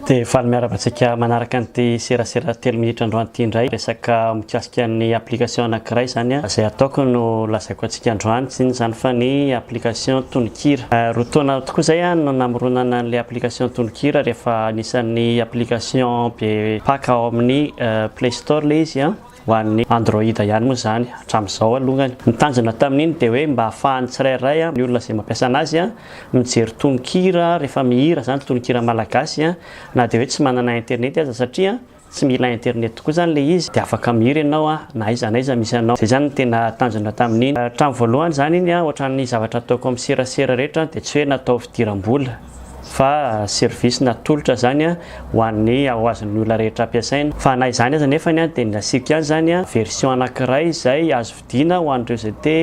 Dia faly miaraka antsika manaraka an'ity serasera telo minitra androany ity indray resaka mikasika ny application anankiray izany a izay ataoko no lazaiko antsika androany tsy inona izany fa ny application tononkira euh, roa taona tokoa izay a no namoronana an'ilay application tononkira rehefa anisan'ny application be paka ao amin'ny euh, play Store le izy an! Ho an'ny Android ihany moa izany hatramin'izao alongany. Ny tanjona tamin'iny dia hoe mba ahafahan'ny tsirairay an, ny olona izay mampiasa anazy an, mijery tononkira rehefa mihira izany, tononkira malagasy an, na dia hoe tsy manana internet aza satria tsy mila internet tokoa izany le izy dia afaka mihira ianao an, na aiza na aiza misy anao. Izay izany no tena tanjona tamin'iny. Hatramin'ny voalohany izany iny an, ohatran'ny zavatra ataoko amin'ny serasera rehetra dia tsy hoe natao fidiram-bola. fa service natolotra zany ho an'ny ho azon'ny olona rehetra ampiasaina fa na izany aza nefany dia ny asiako ihany zany version anankiray izay azo vidiana ho an'ireo izay te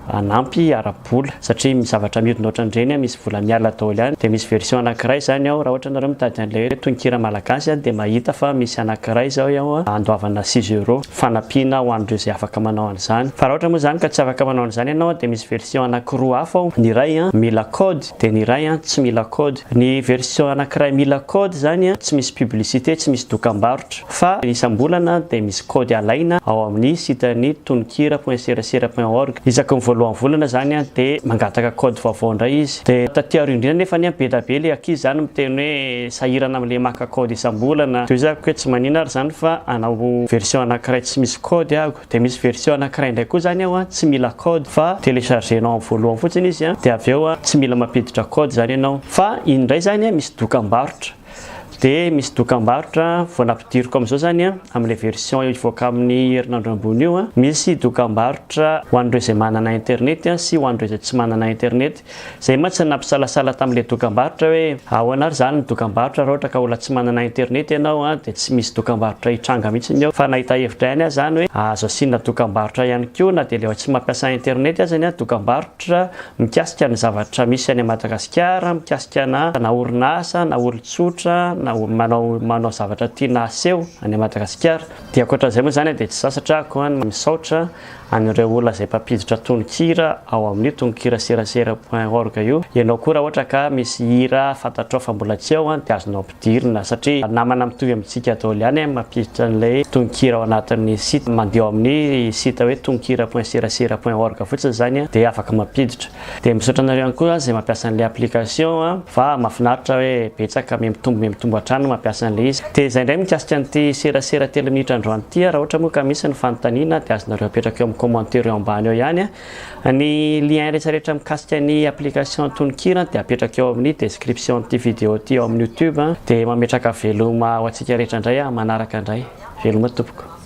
hanampy ara-bola satria misy zavatra mihodina ohatran'ireny misy vola miala daholo ihany dia misy version anankiray zany ao raha ohatra ianareo mitady an'ilay hoe tononkira malagasy dia mahita fa misy anankiray izao ao andoavana six euros fanampiana ho an'ireo izay afaka manao an'izany fa raha ohatra moa izany ka tsy afaka manao an'izany ianao dia misy version anankiroa hafa ao ny iray mila code Teny iray an, tsy mila code. Ny version anakiray mila code zany an, tsy misy publicité, tsy misy dokambarotra. Fa isam-bolana dia misy code alaina ao amin'ny site ny tononkira.serasera.org. Isaky ny voalohan'ny volana zany an, dia mangataka code vaovao indray izy. Dia taty aoriana indrindra nefa anie be da be ilay ankizy zany miteny hoe sahirana amin'ilay maka code isam-bolana. Dia hoy zako hoe tsy manina ary zany fa hanao version anakiray tsy misy code aho. Dia misy version anankiray indray koa izany ao tsy mila code fa telechargenao amin'ny voalohany fotsiny izy dia avy eo tsy mila mampiditra code izany ianao. Fa iny indray izany misy dokam-barotra dia misy dokam-barotra vao nampidiriko amin'izao izany amin'ilay version hivoaka amin'ny herinandro ambony io, misy dokam-barotra ho an'ireo izay manana internet sy ho an'ireo izay tsy manana internet. Zay mantsy nampisalasala tamle dokambarotra hoe ahoana ary zany ny dokambarotra ra ohatra ka ola tsy manana internet ianao an de tsy misy dokambarotra hitranga mitsiny eo fa nahita hevitra ihany ah zany hoe azo asiana dokambarotra ihany koa na de le tsy mampiasa internet aza ny dokambarotra mikasika ny zavatra misy any Madagasikara mikasika na na orinasa na olotsotra na manao manao zavatra tiana aseho any Madagasikara de ankoatran'izay moa zany de tsy sasatra ah koa misaotra an'ireo olona izay mpampiditra tononkira ao amin'io tononkira serasera point org io, ianao koa raha ohatra ka misy hira fantatrao fa mbola tsy ao dia azonao ampidirina satria namana mitovy amintsika daholo ihany ny mampiditra an'ilay tononkira ao anatin'ny site, mandeha ao amin'ny site hoe tononkira point serasera point org fotsiny izany dia afaka mampiditra. Dia misaotra anareo ihany koa izay mampiasa an'ilay application a, fa mahafinaritra hoe betsaka mihamitombo mihamitombo hatrany ny mampiasa an'ilay izy. Dia izay indray mikasika an'ity serasera telo minitra androany ity a, raha ohatra moa ka misy ny fanontaniana dia azonareo apetraka eo amin'ny commentaire eo ambany eo ihany a. Ny lien rehetra rehetra mikasika ny application tononkira dia apetraka eo amin'ny description an'ity video ity eo amin'ny youtube a. Dia mametraka veloma ho antsika rehetra indray aho manaraka indray. Veloma tompoko.